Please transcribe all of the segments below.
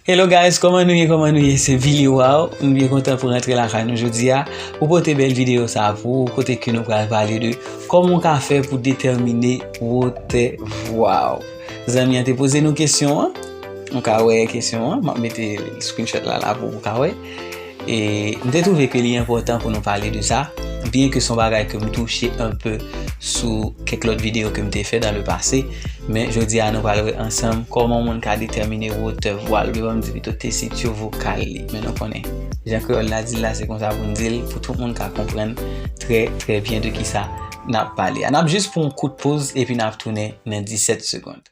Hello guys, koman nou ye, koman nou ye, se Billy Waw, m byen kontan pou rantre la kay nou jodi a, pou pote bel video sa a pou ou, kote ke nou pral pale de, koman ou ka fè pou detèmine wotè vwa ou. Zanmi an te poze nou kesyon an, nou ka wè kesyon an, m ap mete screenshot la la pou ou ka wè. E m te twouve ke li enpòtan pou nou pale de sa, byen ke son bagay ke m touche anpe sou kèk lòt videyo ke m te fè dan le pase, men jodi a nou pral wè ansanm kòman yon moun ka detèmine wotè vwa l, devan m di pito tesitur vokal li, men nou konnen jan kreyòl la di l la se konsa pou n di l pou tout moun ka konprann trè trè byen de kisa n ap pale a. N ap jis pran yon kout poz epi n ap tounen nan 17 segond.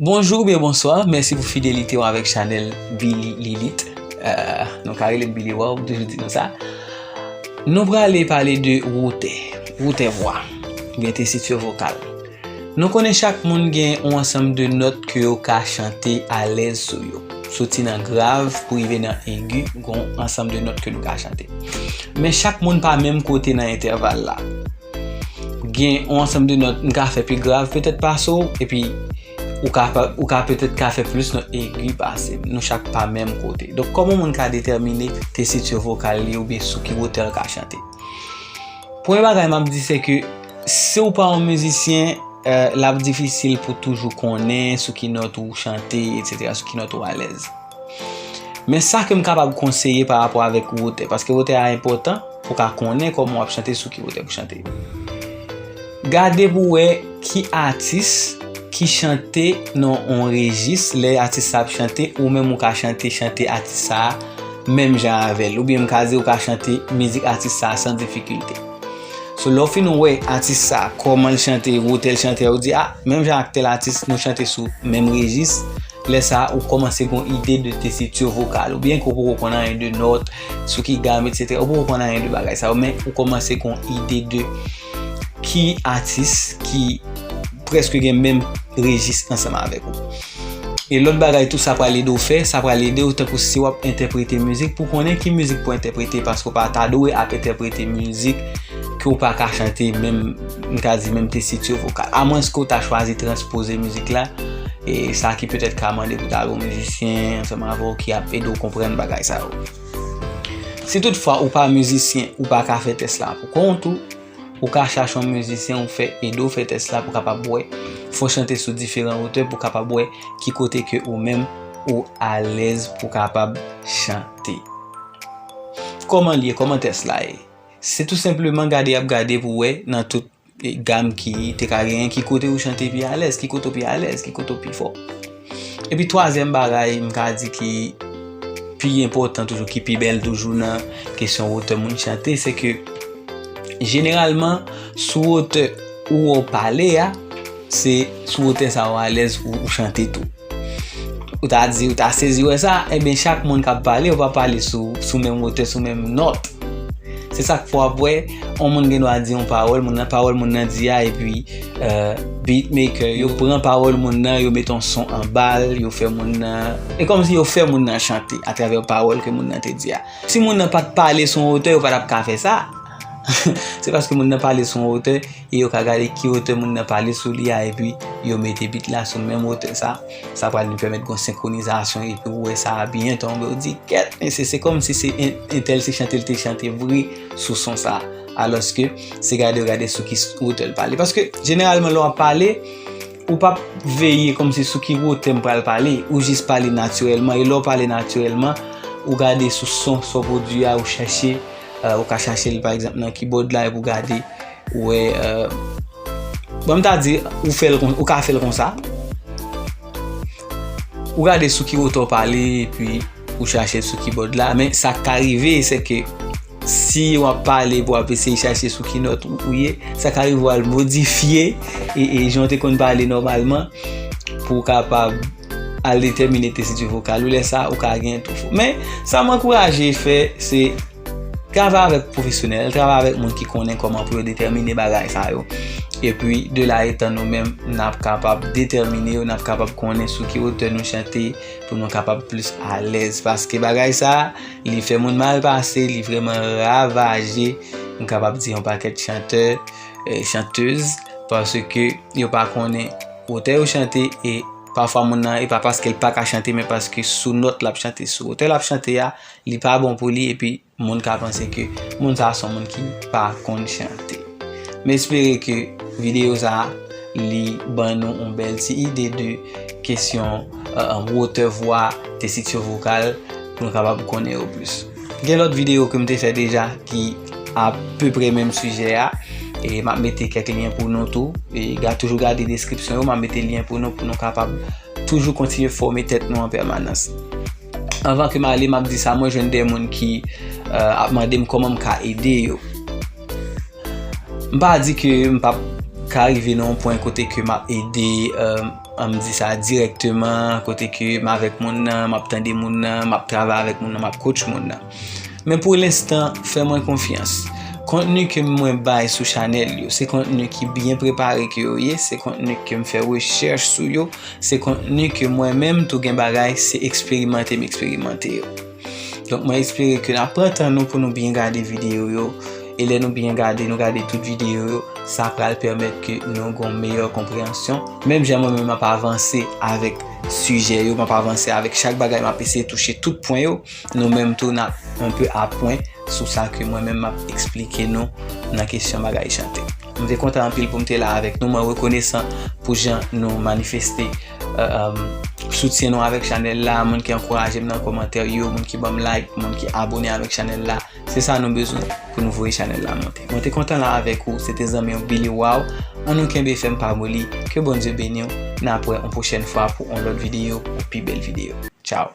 Bonjou oubyen bonswa, mèsi pou fidelite w avèk chanèl Billy Lilith Nou ka rele m Billy Waw, m toujou di nou sa Nou prale pale de wotè, wotè vwa, oubyen tesitur vokal Nou konnen chak moun gen yon ansanm de nòt ke yo ka chante alèz sou yo Soti nan grav pou rive nan egi, gon ansanm de nòt ke nou ka chante Men chak moun pa menm kote nan entèval la Gen yon ansanm de nòt m ka fè pi grav petèt pase w, epi ou ka petèt ka fè plis nòt egi pase m. Nou chak pa menm kote. Donk, kòman yon moun ka detèmine tesitur vokal li oubyen sou ki wotè l ka chante? Premye bagay m ap di se ke si w pa yon mizisyen, l ap difisil pou toujou konnen sou ki nòt ou chante, etsetera, sou ki nòt ou alèz. Men sa ke m kapab konseye pa rapò avèk wotè, paske wotè a enpòtan pou ka konnen kòman w ap chante sou ki wotè pou chante. Gade pou wè ki atis ki chante nan yon rejis, lè atis sa ap chante ou menm ou ka chante chante atis sa a menm jan avè l, oubyen m ka di ou ka chante mizik atis sa a san difikilte. So lè w fin wè atis sa a kòman l chante, wotè l chante a ou di a menm jan ak tèl atis nou chante sou menm rejis. Lè sa a, ou kòmanse gon ide de tesitur vokal ou, byen ke ou poko konn anyen de nòt, sou ki gam etc. Ou poko konn anyen de bagay sa yo, men ou kòmanse gon ide de ki atis ki prèske gen menm rejis ansanm avèk ou. E lòt bagay tou sa pral ede ou fè, sa pral ede ou tankou si wap entèprete mizik pou konnen ki mizik pou entèprete paske ou pa ta dwe ap entèprete mizik ke ou pa ka chante menm. m ta di menm tesityo vokal. Amwens ke w ta chwazi transpoze mizik la, e sa ki petèt ka mande pou ta gen yon mizisyen ansanm avè w ki ap ede w konprann bagay sa yo. Si tout fwa ou pa mizisyen, ou pa ka fè tès la pou kont ou, ou ka chache yon mizisyen ou fè ede w fè tès la pou kapab wè, fò w chante sou diferan otè pou kapab wè ki kote ke ou menm ou alèz pou kapab chante. Kòman l ye? Kòman tès la ye? Se tou senpleman gade yap gade pou wè nan tout gam ki te ka genyen ki kote ou chante pi alèz, ki kote ou pi alèz, ki kote ou pi fò. E pi twazyèm bagay m ka di ki pi enpòtan toujou, ki pi bèl toujou nan kesyon wotè moun chante, se ke jeneralman sou wotè ou wè ou pale a, Se sou wotè sa ou alèz pou ou chante tou. Ou ta di, ou ta sezi wè sa, enben chak moun kap pale, ou pa pale sou menm wotè, sou menm nòt. Se sak fè wap wè, on moun gen dwa di on pawòl, moun nan pawòl moun nan di a, epi euh, beatmaker yo pran pawòl moun nan, yo met on son anbal, yo fè moun nan, e kòm si yo fè moun nan chante, atravè pawòl ke moun nan te di a. Si moun nan pat pale sou on wotè, yo pa tap ka fè sa. Se paske moun nan pale sou yon otè, e yo ka gade ki otè moun nan pale sou li a, epi yo mete bit la sou menm otè sa, sa pral vin pèmèt gon senkronizasyon, epi ou wè sa a byen tonbe, ou di kèt mesye, se kòm si se entèl se chante li te chante vre sou son sa, alòske se gade ou gade sou ki otè li pale. Paske jeneralman lè w ap pale, ou pa ap veye kòm si sou ki otè m pral pale, ou jis pale natirèlman, e lè w pale natirèlman, ou gade sou son sa w pwodui a, ou chache. Ou ka chache l pa egzanp nan kibod la epi ou gade ou wè bon m ta di ou ka fè l konsa ou gade sou ki wotè ou pale epi ou chache l sou kibod la men sa k ka rive se ke si w ap pale pou ap eseye chache sou ki nòt ou ye sa ka rive ou al modifye e jan w te konn pale nòmalman pou w kapab Al detèmine tesitu vokal ou lè sa ou ka gen tou fo. Men, sa mwen ankouraje fè se travay avèk pwofesyonèl, travay avèk moun ki konnen kòman pou yo detèmine bagay sa yo. E pi, de la etan nou menm, n ap kapab detèmine yo, n ap kapab konnen sou ki otè nou chante pou nou kapab plis alèz. Paske bagay sa, li fè moun mal pase, li vreman ravaje, m kapab di yon pakèt chantè, chantez, paske yo pa konnen. Otè yo chante e pafwa moun nan e pa paske l pa ka chante men paske sou nòt l ap chante, sou otè l ap chante a, li pa bon pou li epi moun ka panse ke moun sa a son moun ki pa konn chante. M espere ke videyo sa a li ban nou yon bèl ti ide de kesyon wotè vwa, tesiksyon vokal pou nou kapab konnen yo plis. Gen lòt videyo ke m te fè deja ki. A peu près menm sujet a. E map mete kèk lyen pou nou tou. E ga toujou gade deskripsyon yo. Map mete lyen pou nou pou nou kapab toujou kontinye fòme tèt nou an pèmanans. Anvan ke m ale map di sa mwen jwenn de moun ki euh, ap mande m kòman m ka ede yo. M pa di ke m pap ka rive nan yon pwen kote ke map ede euh, an m di sa direkteman, kote ke m avèk moun nan, map tande moun nan, map travay avèk moun nan, map coach moun nan. Men pou lenstan, fè mwen konfyans. Kontni ke mwen bay sou chanèl yo, se kontni ki byen prepare ke yo ye, se kontni ke m fè rechèch sou yo, se kontni ke mwen menm tou gen bagay se eksperimante m eksperimante yo. Donk mwen espere ke nan pran tan nou pou nou byen gade videyo yo, e lè nou byen gade, nou gade tout videyo yo, sa pral pèmèt ke nou gon meyè konpreyansyon. Menm jan mwen menm m ap avanse avèk sijè yo, m ap avanse avèk chak bagay, m ap eseye touche tout pwen yo. Nou menm tou nap un peu a pwen sou sa ke mwen menm map eksplike nou nan kesyon bagay chante. M te kontan anpil pou m te la avèk nou, mwen rekonesan pou jan nou manifeste soutyen nou avèk chanèl la, moun ki ankouraje m nan komantè yo, moun ki ban m like, moun ki abone avèk chanèl la, se sa nou bezwen pou nou voye chanèl la monte. Mwen te kontan la avèk ou, se te zanmi w Billy Waw, an nou kenbe fèm pa moli, ke Bondye beni w, nap wè on pwochèn fwa pou on lòt videyo, on pi bèl videyo. Tchao!